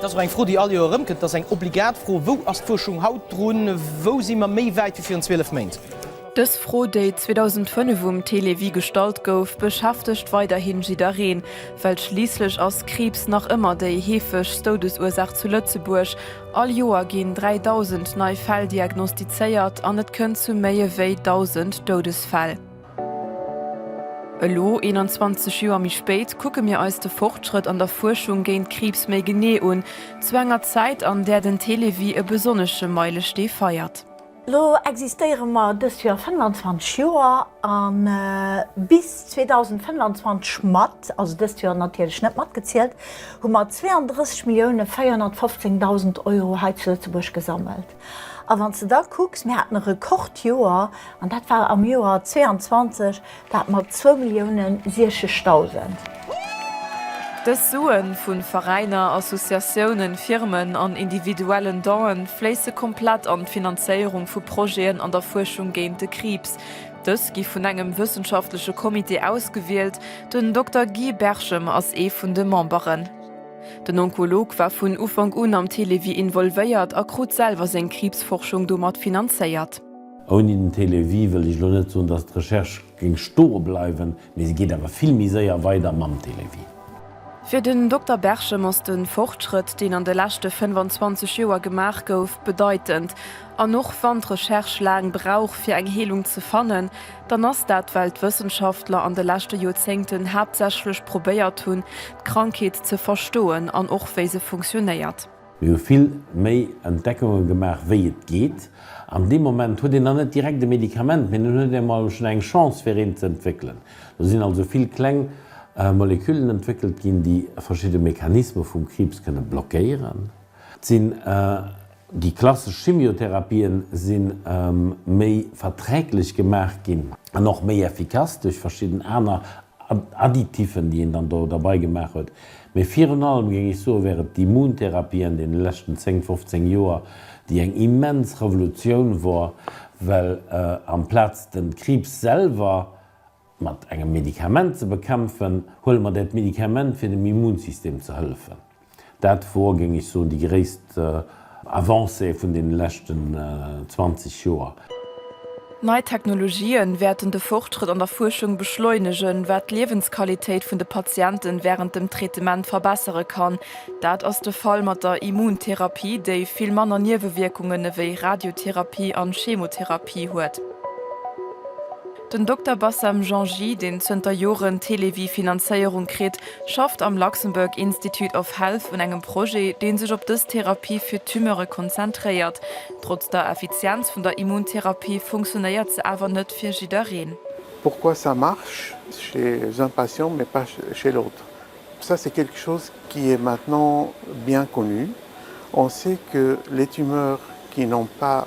Dat ass och eng Fro, déi all Joer erëmkënnt. Dat ass eng obligat Fro, Wou ass d'Fuerschung haut drun? Wou si mer méi wäit wéi virun 12 Méint? Dës Fro, déi 2005 um Télévie gestallt gouf, beschäftegt weiderhi jiddereen, well schliisslech ass Kriibs nach ëmmer déi heefegst Doudesursaach zu Lëtzebuerg. All Joer ginn 3.000 nei Fäll diagnostizéiert an et kënnt zu méi ewéi 1.000 Doudesfäll. Elo, 21 Joer méi spéit, kucke mir eis de Fortschrëtt an der Fuerschung géint Kriibs méi genee un, zu enger Zäit, an där den Télévie e besonnesche Meilestee feiert. Elo existéiere mer dëst Joer 25 Joer, a bis 2025 mat, also dëst Joer natierlech net matgezielt, hu mer 32 Millioune 415 dausend Euro hei zu Lëtzebuerg gesammelt. A wann s de da kucks, mir haten e Rekordjoer, an dat war am Joer 22 dat mat zwou Millioune siechegdausend. Dës Sue vu Veräiner, Associatiounen, Firmen an individuellen Don'e fléisse komplett an d'Finanzéierung vu Projeten an der Fuerschung géint de Kriibs. Dës gi vun engem wëssenschaftleche Comité ausgewielt, den Dokter Guy Berchem ass ee vun de Memberen. Den Onkolog war vun Ufank un am Télévie involvéiert a krut selwer seng Kriibsforschung domat finanzéiert. Ouni den Télévie wëll ech elo net soen, datt d'Recherche géing stoe bleiwen, mee se geet awer vill méi séier weider mam Télévie. Fir den Dokter Berchem ass de Fortschrëtt, deen an de leschte 25 Joer gemaach gouf, bedeitend. An och wann d'Recherche laang brauch fir eng Heelung ze fannen, dann ass dat well d'Wëssenschaftler an de leschte Joerzéngten haaptsächlech probéiert hunn d'Krankheet ze verstoen an och wéi se funktionéiert. Mir hu vill méi Entdeckunge gemaach wéi et geet. An deem Moment huet een nach net direkt e Medikament, mee dann huet een emol schonn eng Chance fir eent ze entwéckelen. Do sinn also vill kleng Moleküllen entwéckelt ginn, déi verschidde Mechanisme vum Kriibs kënne blockéieren. Et sinn. Déi klassesch Chimiotherapien si méi verträglech gemaach ginn an och méi effikass duerch verschidden aner Additiffen, déi een dann do derbei gemaach huet. Mee virun allem géing ech soen, wär et d'Immuntherapie an deene leschten 10, 15 Joer, déi eng immens Revolutioun wor, well amplaz de Kriibs selwer, Mat engem Medikament ze bekämpfen, huele mer dat Medikament fir dem Immunsystem ze hëllefen. Dat wor, géing ech soen, déi gréisst Avancé vun deene leschten 20 Joer. Nei Technologië wäerten de Fortschrëtt an der Fuerschung beschleunegen, wat d'Liewensqualitéit vun de Patienten wärend dem Traitement verbessere kann. Dat ass de Fall mat der Immuntherapie, déi vill manner Niewewierkungen ewéi Radiotherapie an Chemotherapie huet. Den Dokter Bassem Janji, deen zënter Joren d'Televi-Finanzéierung kritt, schafft am Luxembourg Institute of Health un engem Projet, dee sech op dës Therapie fir Tumeure konzentréiert. Trotz der Effizienz vun der Immuntherapie funktionéiert se awer net fir jiddereen. Pourquoi ça marche chez un patient mais pas chez l'autre? Ça c'est quelque chose qui est maintenant bien connu. On sait que les tumeurs qui n'ont pas.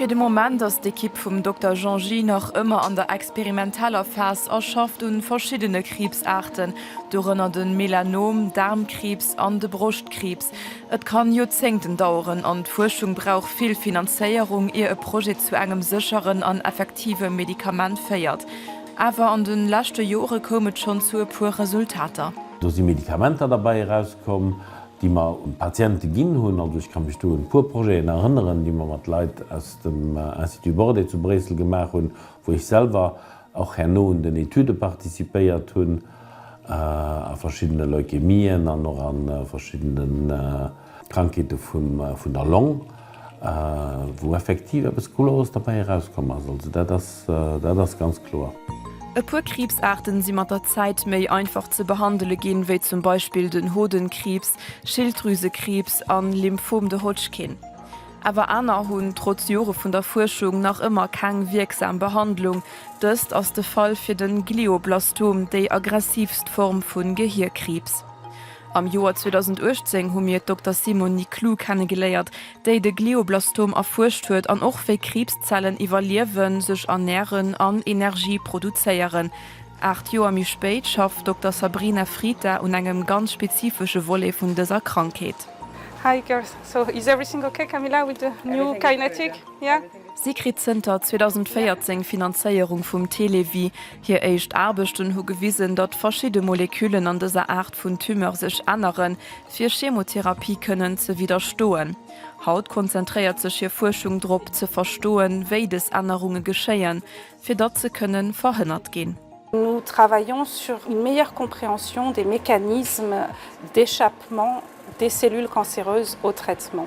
Fir de Moment ass d'Ekipp vum Dokter Jean Gey nach ëmmer an der experimenteller Phas a schafft un verschiddene Kriibsaarten, dorënner den Melanom, Daarmkriibs an de Broschtkriibs. Et kann Joerzéngten daueren an d'Fuerschung brauch vill Finanzéierung ier e Projet zu engem sécheren an effektive Medikament féiert. Awer an den leschte Jore koum et schonn zu e puer Resultater. Do si Medikamenter derbäi eraus komm, déi mer un d'Patiente ginn hunn. Also ech ka mech do un e puer Projeten erënneren, déi mer mat Leit aus dem Institut Bordet zu Bréissel gemaach hunn, wou ech selwer och herno un den Etüde participéiert hunn, a verschiddene Leukemien an och a verschiddene Krankheete vun der Long. A wou effektiv eppes Cooleres derbäi erauskomm ass. Also dat ass, dat ass ganz kloer. E puer Kriibsaarten si mat der Zäit méi einfach ze behandele ginn, wéi zum Beispill den Hodenkriibs, Schilddrüsekriibs an Lymphom de Hodgkin. Awer aner hunn, trotz Jore vun der Fuerschung, nach ëmmer keng wierksam Behandlung. Dëst ass de Fall fir den Glioblastom, déi aggressivst Form vun Gehierkriibs. Am Joer 2018 hu mir d'Dokter Simone Niclou kennegeléiert, déi de Glioblastom erfuerscht huet an och wéi Kriibszellen iwwerliewen, sech ernären an Energie produzéieren. Aacht Joer méi spéit schafft d'Dokter Sabrina Frita un engem ganz spezifesche Volet vun dëser Krankheet. Hi girls, so is everything okay Camilla with the new Kinetic? Yeah? Si kritt zënter 2014 Finanzéierung vum Télévie. Hir éischt Aarbechten hu gewisen, datt verschidde Moleküllen an dëser Aart vun Tumeur sech änneren, fir Chemotherapie kënnen ze widderstoen. Haut konzentréiert sech hir Fuerschung drop, ze verstoen, wéi des Ännerunge geschéien, fir datt se kënne verhënnert ginn. Nous travaillons sur une meilleure compréhension des mécanismes d'échappement des cellules cancéreuses au traitement.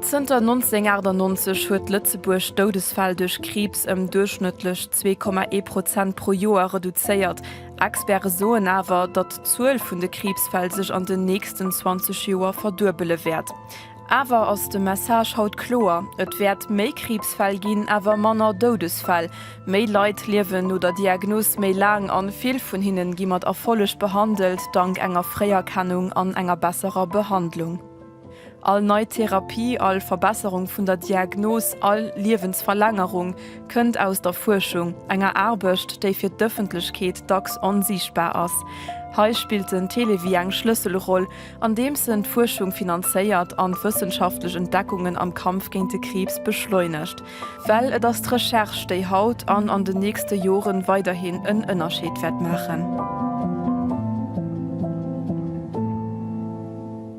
Zënter 1998 huet Lëtzebuerg d'Doudesfäll duerch Kriibs ëm duerchschnëttlech 2,1 Prozent pro Joer reduzéiert. Experte soen awer, datt d'Zuel vun de Kriibsfäll sech an den nächsten 20 Joer verduebele wäert. Awer ass de Message haut kloer, Et wäert méi Kriibsfäll ginn, awer manner Doudesfäll. Méi Leit liewen no der Diagnos méi laang an vill vun hinnen gi mat Erfolleg behandelt, dank enger Fréierkennung an enger besserer Behandlung. All nei Therapie, all Verbesserung vun der Diagnos, all Liewensverlängerung kënnt aus der Fuerschung, enger Aarbecht, déi fir d'Ëffentlechkeet dacks onsiichtbar ass. Hei spillt den Télévie eng Schlësselroll, andeems en d'Fuerschung finanzéiert an d'wëssenschaftlech Entdeckungen am Kampf géint de Kriibs beschleunegt. Well et ass d'Recherche, déi haut an an den nächste Jore weiderhin en Ënnerscheed wäert maachen.